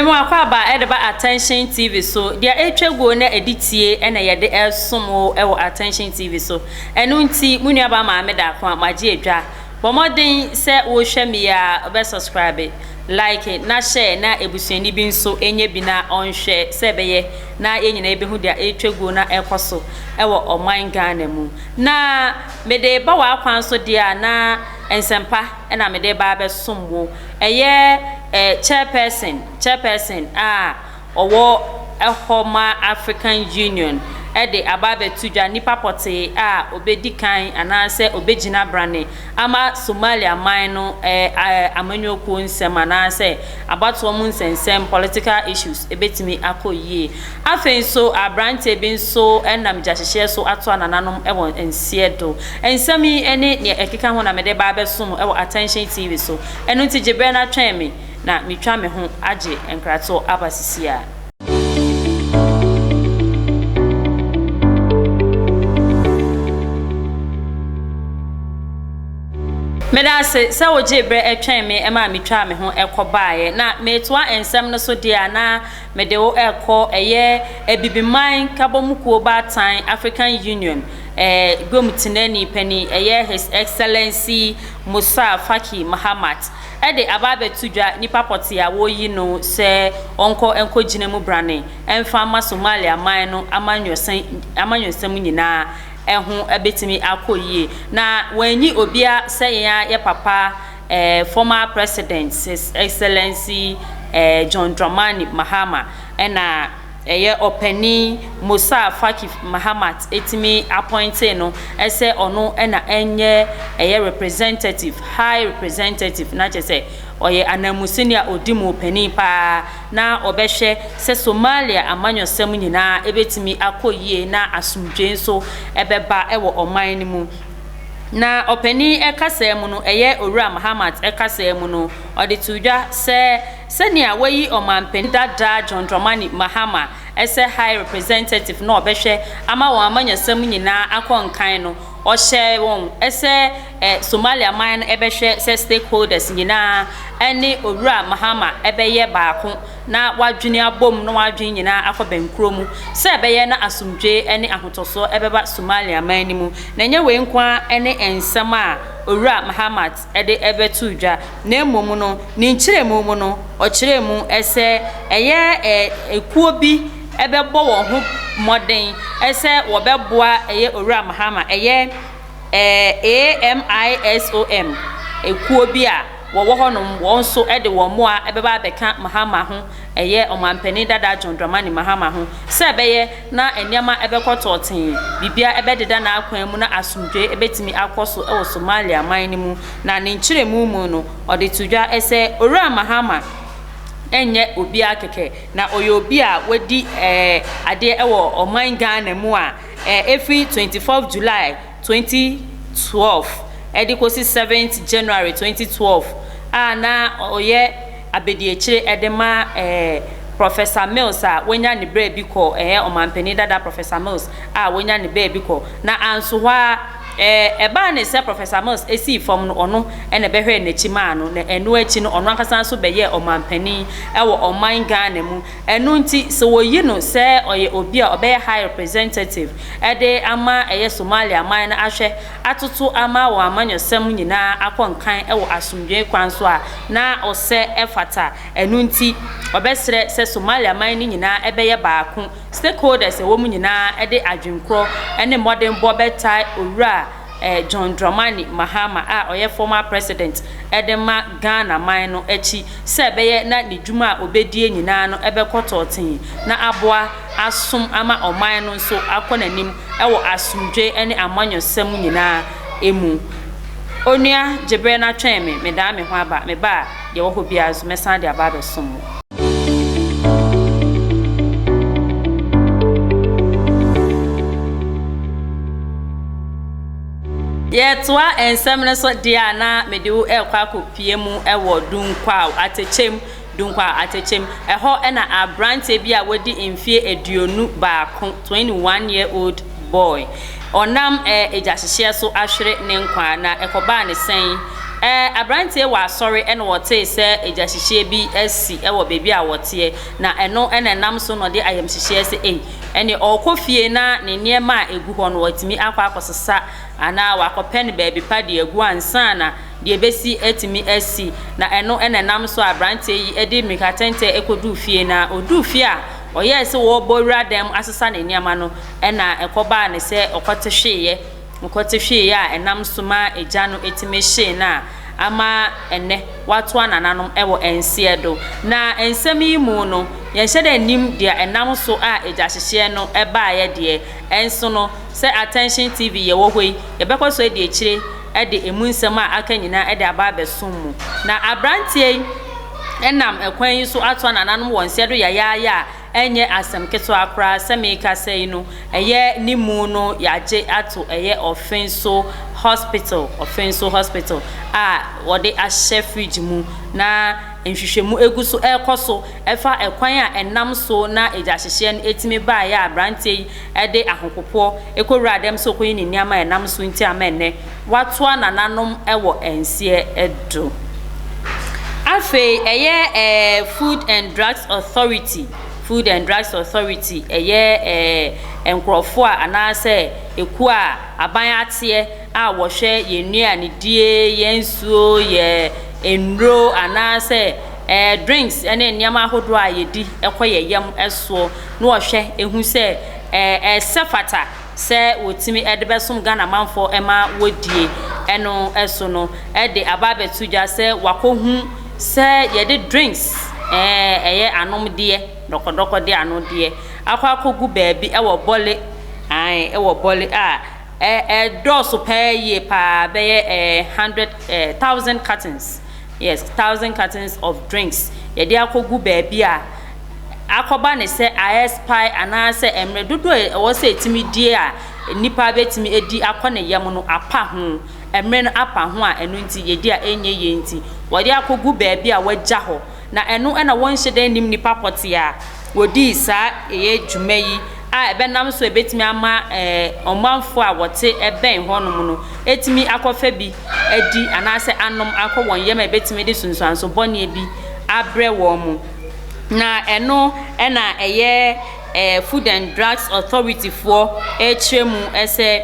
Mmom akwaaba ɛde ba Attention TV so. Deɛ ɛretwa guo na ɛde tie ɛna yɛde ɛresom wo ɛwɔ Attention TV so. Ɛno nti mo nuabaa Maame Daakoma magye adwa. Bɔ mmɔden sɛ wohwɛ me yi a wobɛ subscribe, like na share na abusuani bi nso ɛnyɛ bi na ɔnhwɛ sɛ ɛbɛyɛ na yɛn nyinaa bɛhu deɛ ɛretwa guo na ɛrekɔ so wɔ ɔman Ghana mu. Na mede reba w'akwan so deɛ a na nsɛmpa na mede reba abɛsom wo. Ɛyɛ eh, chairperson, chairperson a ɔwɔ ɛhɔ ma African Union de aba abɛto dwa nnipa pɔtee a ɔbɛdi kan anaasɛ ɔbɛgyina brane ama Somalia man no amanyɔkuo nsɛm anaasɛ abatoɔ mu nsɛnsɛm, political issues, bɛtumi akɔ yie. Afei nso abranteɛ bi nso nam gyahyehyeɛ so ato anananom wɔ nseɛ do. Nsɛm yi ne deɛ ɛkeka ho na mede reba abɛso mo wɔ Attention TV so. Ɛno nti gye berɛ na twɛn me na metwa me ho agye nkratoɔ aba sisiaa. Meda ase sɛ wogyee berɛ twɛn me maa metwaa me ho kɔbaeɛ. Na meretoa nsɛm no so deɛ a na mede wo rekɔ ɛyɛ Abibiman Kabɔmukuo Baatan African Union eh, Guam Tenani Panin ɛyɛ His Excellency Musa Faki Mahamat. de aba abɛto dwa nipa pɔtee a wɔreyi no sɛ ɔnkɔ nkɔgyina mu brane mfa mma Somalia man no amanyɔsɛm amanyɔsɛm nyinaa ho bɛtumi akɔ yie. Na wɔanyi obiara sɛ yɛn ara yɛ papa eh, former President, His Excellency eh, John Dramani Mahama ɛna Ɛyɛ ɔpanin Musar Faki Mahamat tumi appointee no sɛ ɔno na ɛnyɛ ɛyɛ representative, high representative, na kyerɛ sɛ ɔyɛ ananmusini a ɔdi mu ɔpanin paa na ɔbɛhwɛ sɛ Somalia amanyɔsɛm nyinaa ɛbɛtumi akɔ yie na asomdwoeɛ nso ɛbɛba wɔ ɔman no mu. Na ɔpanin kasaa mu no, ɛyɛ Owura Mahamat kasaa mu no, ɔde too dwa sɛ, Sɛnea wɔayi Ɔmanpanin dada John Dramani Mahama sɛ High Representative na ɔbɛhwɛ ama wɔn amanyɔsɛm nyinaa akɔ nkan no, ɔhyɛɛ wɔn sɛ Somalia man no bɛhwɛ sɛ stakeholders nyinaa ne Owura Mahama bɛyɛ baako na wɔadwene abom na wɔn adwene nyinaa akɔ bɛnkoro mu sɛ ɛbɛyɛ na asomdwoe ne ahotɔsoɔ bɛba Somalia man no mu. Na ɛnyɛ wei nko ara ne nsɛm a Owura Mahama de bɛtoo dwa, na mmom no, ne nkyerɛmu mu no, ɔkyerɛɛ mu sɛ ɛyɛ kuo bi bɛbɔ wɔn ho mmɔden sɛ wɔbɛboa ɛyɛ Owura Mahama, ɛyɛ AMISOM kuo bi a wɔwɔ hɔnom, wɔn nso de wɔn mmoa bɛba abɛka Mahama ho. Ɛyɛ Ɔmanpanin dada John Dramani Mahama ho sɛ ɛbɛyɛ na nneɛma bɛkɔ tɔɔtee, biribiara bɛdeda n'akwan mu na asomdwoe betumi akɔ so wɔ Somalia man no mu, na ne nkyerɛmu mu no, ɔde to dwa sɛ Owura Mahama nyɛ obiara kɛkɛ, na ɔyɛ obi a wadi adeɛ wɔ ɔman Ghana mu a ɛfiri 24th July, twenty twelve de kɔsi seventh January twenty twelve a na ɔyɛ abadiakyire de ma ɛɛ Professor Mills a wanya ne berɛ bi kɔ ɛɛ ɔmanpanin dada Professor Mills a wanya ne berɛ bi kɔ na anso hɔ ara ɛɛ ɛbaa ne sɛ Professor Mills sii fam no ɔno na ɛbɛhwɛɛ n'akyi maa no na ɛno akyi no ɔno ankasa nso bɛyɛɛ ɔmanpanin wɔ ɔman Ghana mu Ɛno nti, sɛ wɔyi no sɛ ɔyɛ obi a ɔbɛyɛ High Representative de ama ɛyɛ Somalia man no ahwɛ atoto ama wɔn amanyɔsɛm nyinaa akɔ nkan wɔ asomdwoe kwan so a, na ɔsɛ ɛfata. Ɛno nti, ɔbɛsrɛ sɛ Somalia man no nyinaa bɛyɛ baako. Stakeholders a ɛwɔ mu nyinaa de adwenkorɔ ne mmɔdenbɔ bɛtaa Owura John Dramani Mahama a ɔyɛ former president de ma Ghana man no akyi sɛ ɛbɛyɛ na ne dwuma a obedie nyinaa no bɛkɔ tɔɔtee na aboa asom ama ɔman no nso akɔ n'anim wɔ asomdwoe ne amanyɔsɛm nyinaa mu. Onua Gyebere na twɛn me, medaa me ho aba, meba a. Deɛ ɛwɔ hɔ biara nso, mɛsan de aba abɛsom mo. Yɛtoa nsɛm no so deɛ a na mede wo rekɔ akɔpie mu wɔ Dunkwao atɛkyɛm, Dunkwao atɛkyɛm. Ɛhɔ na aberanteɛ bi a wadi mfeɛ aduonu baako. twenty one year old boy ɔnam eh egyahyehyɛ so ahwere ne nkwa na ɛkɔbaa ne sɛn eh abranteɛ wɔ asɔre ɛna wɔtee sɛ egyahyehyɛ bi asi ɛwɔ baabi a wɔteɛ na ɛno ɛna ɛnam so na ɔde ayamhyehyeɛ sɛ ei ɛne ɔkɔ fie na ne nneɛma a egu hɔ no watumi akɔ akɔsesa anaa wakɔpɛ no baabi pa de agu ansa na deɛ ɛbɛsi atumi asi na ɛno ɛna ɛnam so a abranteɛ yi ɛde mmirikatɛntɛ ɛkɔduu fie na ɔduu fie a Ɔyɛɛ sɛ ɔrebɔ wura dan mu asesa ne nneɛma no, ɛnna ɛkɔbaa no sɛ ɔkɔte hweeɛ. Ɔkɔte hweeɛ a, ɛnam so maa egya no tumi hyee no a ama ɛnnɛ watoa nananom wɔ nseɛ do. Na nsɛm yi mu no, yɛnhyɛ da nnim deɛ ɛnam so a egyahyehyɛ no baeɛ deɛ. Nso no, sɛ Attention TV yɛwɔ hɔ yi, yɛbɛkɔ so adi akyire de emu nsɛm a aka nyinaa de aba abɛsom mu. Na aberanteɛ yi. nam kwan yi so atoa nananom wɔ nsɛ do yayaaya a, ɛnyɛ asɛm ketsewa koraa. Sɛ merekasa yi no, ɛyɛ ne mu no yɛagye ato ɛyɛ Ɔfenso Hospital, Ɔfenso Hospital a wɔde ahyɛ fridge mu, na nhwehwɛmu gu so rekɔ so fa kwan a ɛnam so na egyahyehyeɛ no tumi baeɛ a aberanteɛ yi de ahopopoɔ kɔwuraa dɛm sɛ ɔrekɔyi ne nneɛma a ɛnam so nti ama ɛnnɛ wɔatoa nananom wɔ nseɛ do. Afei ɛyɛ ɛɛ Food and Drugs Authority, Food and Drugs Authority, ɛyɛ ɛɛ nkorɔfoɔ a anaasɛ ekuo a aban ateɛ a wɔhwɛ yɛn nnuanedie, yɛn nsuo, yɛn nnuro anaasɛ ɛɛ drinks ne nneɛma ahodoɔ a yɛdi kɔ yɛn yam soɔ na wɔhwɛ hu sɛ ɛɛ ɛsɛ fata. sɛ wɔtumi de bɛsom Ghana manfoɔ ma wɔdie ɛno so no de aba abɛto dwa sɛ wakɔhu sɛ yɛde drinks eh, ɛyɛ eh, anomdeɛ dɔkɔdɔkɔdeɛ anodeɛ akɔ akɔgu baabi ɛwɔ bɔle ae ɛwɔ bɔle a ɛdɔɔso paa yie paa bɛyɛ eh, hundred eh, thousand cartons yes thousand cartons of drinks yɛde akɔgu baabi a akɔba no sɛ aɛspae anaasɛ mmerɛ dodoɔ a ɛwɔ sɛ ɛtumi die a nnipa bɛtumi adi akɔ ne yam no apa ho, mmerɛ no apa ho a ɛno nti yɛdi a ɛnyɛ yie nti wɔde akɔgu baabi a wɔagya hɔ. Na ɛno na wɔnhyɛ da nnim nnipa pɔtee a wɔdii saa ɛyɛ dwuma yi a ɛbɛnam so a ɛbɛtumi ama ɔmanfoɔ a wɔte bɛn hɔ nom no atumi akɔfa bi adi anaasɛ anom akɔ wɔn yam a ɛbɛtumi de sunsuanso bɔne bi abrɛ wɔn. Na ɛno na ɛyɛ ɛɛ Food and Drugs Authority foɔ ɛrekyerɛ mu sɛ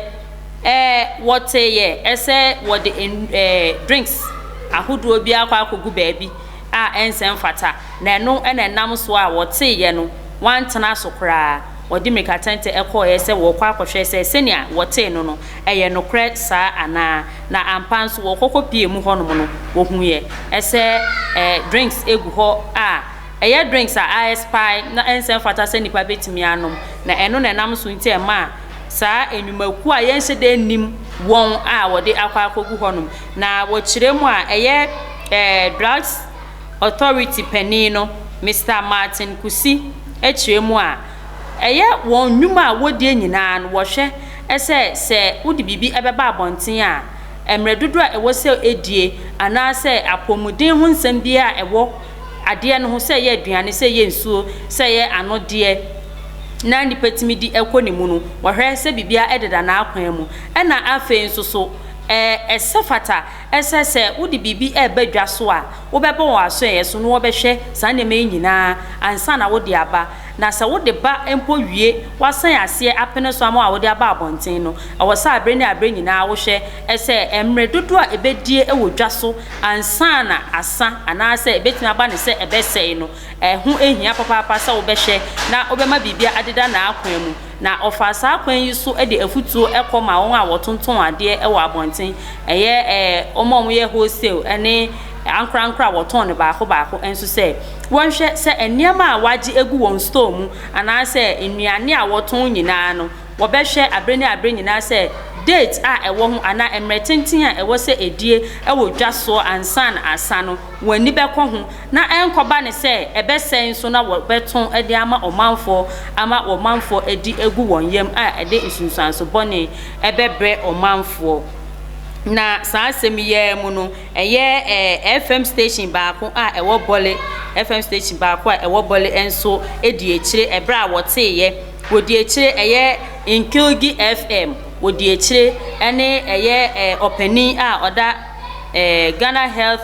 ɛɛ wɔteeɛ sɛ wɔde ɛɛ drinks ahodoɔ bi akɔ akɔgu baabi a ɛnsɛ mfata. Na ɛno na ɛnam so a wɔteeɛ no, wɔantena so koraa. Wɔde mmirikatɛntɛ kɔeɛ sɛ wɔrekɔ akɔhwɛ sɛ sɛdeɛ wɔtee no no, Ɛyɛ nokorɛ saa anaa? Na ampa nso wɔkɔkɔ pie mu hɔnom no wɔhuiɛ ɛsɛ ɛ drinks gu hɔ a ɛyɛ drinks a ayɛs pae na ɛnsɛ mfata sɛ nipa bɛtumi anom na ɛno na ɛnam so nti ɛmaa saa nnwumakuo a yɛnhyɛ da nnim wɔn a wɔde akɔ akɔgu hɔnom na wɔkyerɛ mu a ɛyɛ ɛ drugs authority panin no Mister Martin Kusi kyerɛ mu a Ɛyɛ wɔn nnwuma a wɔdie nyinaa no wɔhwɛ sɛ sɛ wode biribi bɛba abɔnten a, mmerɛ dodoɔ a ɛwɔ sɛ ɛdie anaa sɛ apɔmuden ho nsɛm biara a ɛwɔ adeɛ no ho, sɛ ɛyɛ aduane, sɛ ɛyɛ nsuo, sɛ ɛyɛ anodeɛ na nnipa tumi di kɔ ne mu no, wɔhwɛ sɛ biribiara deda n'akwan mu. Ɛna afei nso so, ɛsɛ fata Ɛsɛ sɛ wode biribi reba dwa so a, wobɛbɔ wɔn asoɛeɛ so na wɔbɛhwɛ saa nneɛma yi nyinaa ansa na wode aba. Na sɛ wode ba mpo wie, wɔasan aseɛ apene so ama wo a wode aba abɔnten no, ɛwɔ sɛ aberɛ ne aberɛ nyinaa wohwɛ sɛ mmerɛ dodoɔ a ɛbɛdie wɔ dwa so ansa na asa anaasɛ ɛbɛtumi aba no sɛ ɛbɛsɛe no, ɛho hia papaapa sɛ wobɛhwɛ na wobɛma biribiara adeda n'akwan mu. Na ɔfaa saa kwan yi so de afutuo kɔ maa wɔn a wɔtontɔn adeɛ wɔ abɔnten, ɛyɛ ɛɛ wɔn a wɔyɛ wholesale ne ankorankoro a wɔtɔn no baako baako nso sɛ, wɔnhwɛ sɛ nneɛma a wɔagye agu wɔn store mu anaasɛ nnuane a wɔtɔn nyinaa no, wɔbɛhwɛ bere ne abere nyinaa sɛ date a ɛwɔ ho anaa mmerɛ tenten a ɛwɔ sɛ ɛdie wɔ dwa soɔ ansa na asa no, wɔn ani bɛkɔ ho. na ɛnkɔba ne sɛ ɛbɛsɛe nso na wɔbɛtõ de ama ɔmanfoɔ ama ɔmanfoɔ adi agu wɔn yam a ɛde nsunsuanso bɔne bɛbrɛ ɔmanfoɔ. Na saa asɛm yi ara mu no, ɛyɛ ɛɛ FM station baako a ɛwɔ Bole, FM station baako a ɛwɔ Bole nso dii akyire ɛberɛ a wɔteeɛ, wɔdii akyire ɛyɛ Nkilgi FM, wɔdii akyire ɛne ɛyɛ ɛɛ ɔpanin a ɔda ɛɛ Ghana Health,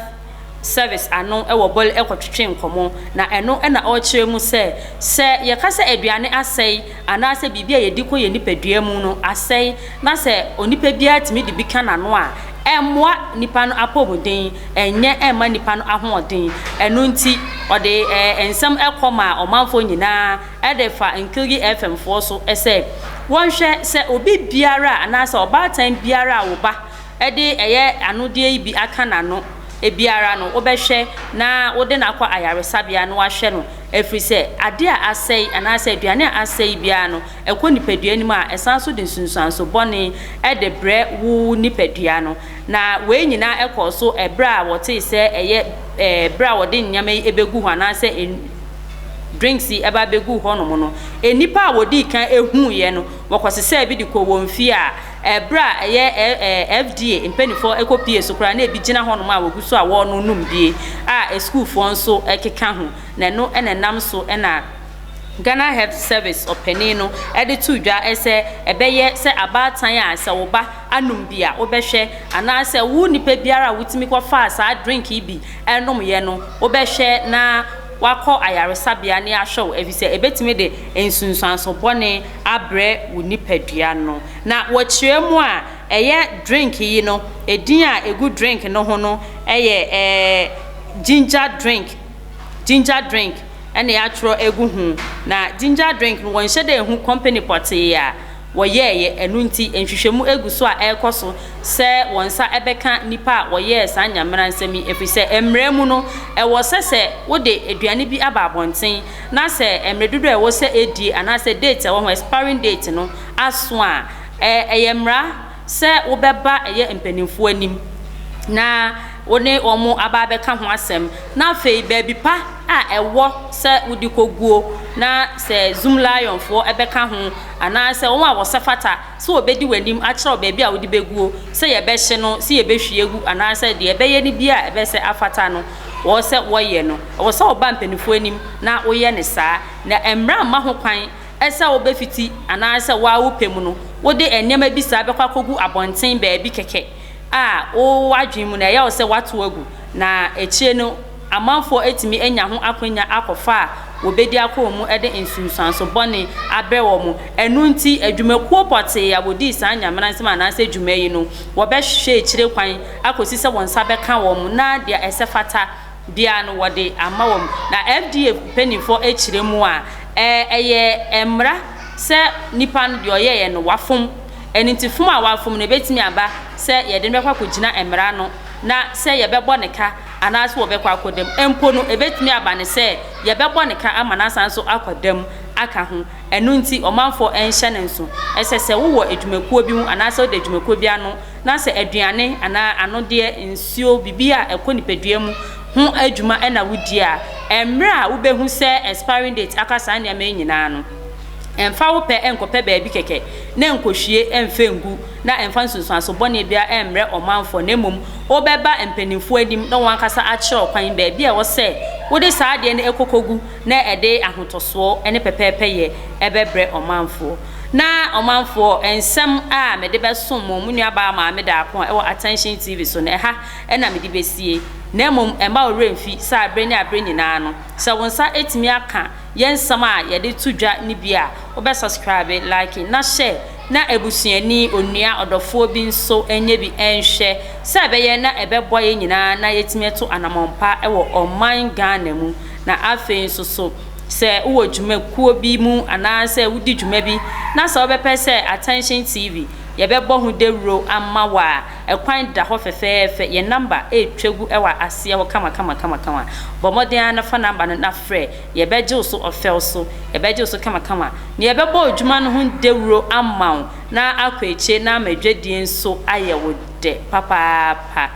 service ano wɔ bɔl kɔtwetwe nkɔmmɔ, na ɛno na ɔrekyerɛ mu sɛ, sɛ yɛka sɛ aduane asɛe anaasɛ biribi a yɛdi kɔ yɛn nipadua mu no asɛe na sɛ onipa biara tumi de bi ka n'ano a, ɛmmoa nipa no apɔmuden, ɛnyɛ mma nipa no ahoɔden. Ɛno nti, ɔde nsɛm kɔ maa ɔmanfoɔ nyinaa de fa Nkirigyi FM foɔ so sɛ wɔnhwɛ sɛ obi biara anaasɛ ɔbaatan biara a wo ba de ɛyɛ anodeɛ yi bi aka n'ano, ebiara no, wobɛhwɛ na wode no akɔ ayaresabea na wɔahwɛ no, ɛfiri sɛ adeɛ a asɛe anaasɛ aduane a asɛe biara no, ɛkɔ nipadua no mu a, ɛsan nso de nsunsuanso bɔne de brɛ wo nipadua no. Na wei nyinaa kɔɔ so berɛ a wɔtee sɛ ɛyɛ eh, berɛ a wɔde nneɛma yi bɛgu hɔ anaasɛ drinks yi ɛba bɛgu hɔnom no, nnipa a wɔdii kan huuiɛ no, wɔkɔsesaa bi de kɔɔ wɔn fie a, Ɛberɛ a ɛyɛ ɛɛ FDA mpaninfoɔ ɛkɔpie so koraa na ɛbi gyina hɔ nom a wɔgu so a wɔɔno nom bie a ɛsukuufoɔ nso ɛkeka ho na ɛno na ɛnam so na Ghana Health Service ɔpanin no ɛde too dwa sɛ ɛbɛyɛ sɛ abaatan a sɛ wo ba anom bi a wobɛhwɛ anaa sɛ wo nipa biara a wotumi kɔ faa saa drink yi bi ɛnomyɛ no wobɛhwɛ na wakɔ ayaresabea ne ahwɛ wo ɛfiri sɛ ɛbɛtumi de nsunsuanso bɔne abrɛ wo nipadua no. Na wɔ kyerɛ mu a, ɛyɛ drink yi no, edin a egu drink no ho no yɛ ɛɛ ginger drink, ginger drink na yɛatwerɛ agu ho. Na ginger drink no, wɔnhyɛ da nhu company pɔtee a wɔyɛeɛ. Ɛno nti, nhwehwɛmu gu so a ɛrekɔ so sɛ wɔn nsa bɛka nnipa a wɔyɛɛ saa nyameransɛm yi, ɛfiri sɛ mmara mu no, ɛwɔ sɛ sɛ wode aduane bi aba abɔnten na sɛ mmerɛ dodoɔ a ɛwɔ sɛ ɛdie anaasɛ date a ɛwɔ ho, expiring date, no aso a, ɛ, ɛyɛ mmara sɛ wobɛba ɛyɛ mpaninfoɔ anim na wo ne wɔn aba abɛka ho asɛm. Na afei baabi pa a ɛwɔ sɛ wode kɔguo na sɛ Zoomlionfoɔ bɛka ho anaasɛ wɔn a wɔsɛ fata sɛ wɔbɛdi w'anim akyerɛ wo baabi a wode bɛguo, sɛ yɛbɛhye no, sɛ yɛbɛhwie agu anaasɛ deɛ ɛbɛyɛ no biara a ɛbɛsɛ afata no. wɔwɔ sɛ wɔyɛ no, ɛwɔ sɛ wɔba mpanyimfo anim na woyɛ no saa. Na mmara mma ho kwan sɛ wobefiti anaasɛ wo ara wo pɛ mu no wode nneɛma bi saa bɛkɔ akogu abɔnten baabi kɛkɛ a wo w'adwene mu no ɛyɛ wo sɛ woatow agu, na akyiri no amanfo atumi anya ho akwannya akɔfa a wobedi akɔ wɔn mu de nsunsuanso bɔne abrɛ wɔn. Ɛno nti, adwumakuo pɔtee a wodii saa Nyamena nsɛm anaasɛ dwuma yi no, wɔbɛhwehwɛ akyire kwan akosi sɛ wɔn nsa bɛka wɔn na deɛ ɛsɛ fata biara no wɔde ama wɔn. Na FDA mpaninfoɔ ɛkyerɛ mu a, ɛyɛ mmara sɛ nipa no deɛ ɔyɛeɛ no wafom. Ɛno nti fom a wafom no ɛbɛtumi aba sɛ yɛde no bɛkɔ akɔgyina mmara no na sɛ yɛbɛbɔ no ka anaa sɛ wɔbɛkɔ akɔda mu mpo no ɛbɛtumi aba no sɛ yɛbɛbɔ no ka ama no asan nso akɔda mu aka ho. Ɛno nti ɔmanfoɔ nhyɛ no nso. Ɛsɛ sɛ wowɔ adwumakuo bi mu anaa sɛ woda adwumakuo bi ano. na sɛ aduane anaa anodeɛ, nsuo, biribi a ɛkɔ nipadua mu ho adwuma na wodi a, mmerɛ a wobɛhu sɛ expiring date aka saa nneɛma yi nyinaa no, mfa wo pɛ nkɔpɛ baabi kɛkɛ na nkɔhwie mfa ngu na mfa nsunsuanso bɔne biara mmrɛ ɔmanfoɔ na mmom wobɛba mpanimfoɔ anim na wɔn ankasa akyerɛ wo kwan baabi a ɛwɔ sɛ wode saa adeɛ no kɔ kɔgu na ɛde ahotɔsoɔ ne pɛpɛɛpɛyɛ bɛbrɛ ɔmanfoɔ. Na ɔmanfoɔ, nsɛm a mede bɛsom mo, mo nuabaa Maame Daako a ɛwɔ Attention TV so no, ɛha na mede bɛsie, na mmom mma wo werɛ mfi sɛ aberɛ ne aberɛ nyinaa no, sɛ wo nsa tumi aka yɛn nsɛm a yɛde to dwa no bi a, wobɛ subscribe, like, na share, na abusuani, onua, ɔdɔfoɔ bi nso nyɛ bi nhwɛ, sɛ ɛbɛyɛ na ɛbɛboa yɛn nyinaa na yɛatumi atu anamɔn pa wɔ ɔman Ghana mu, na afei nso so, Sɛ wowɔ dwumakuo bi mu anaa sɛ wodi dwuma bi na sɛ wobɛpɛ sɛ Attention TV yɛbɛbɔ ho dawuro ama wo a, ɛkwan da hɔ fɛfɛɛfɛ. Yɛn namba retwa gu wɔ aseɛ hɔ kamakamakamakama. Bɔ mmɔden ara na fa namba no na frɛ. Yɛbɛgye wo so ɔfɛw so. Yɛbɛgye wo so kamakama na yɛbɛbɔ adwuma no ho dawuro ama wo na akɔ akyire na ama dwadie nso ayɛ wo dɛ papaapa.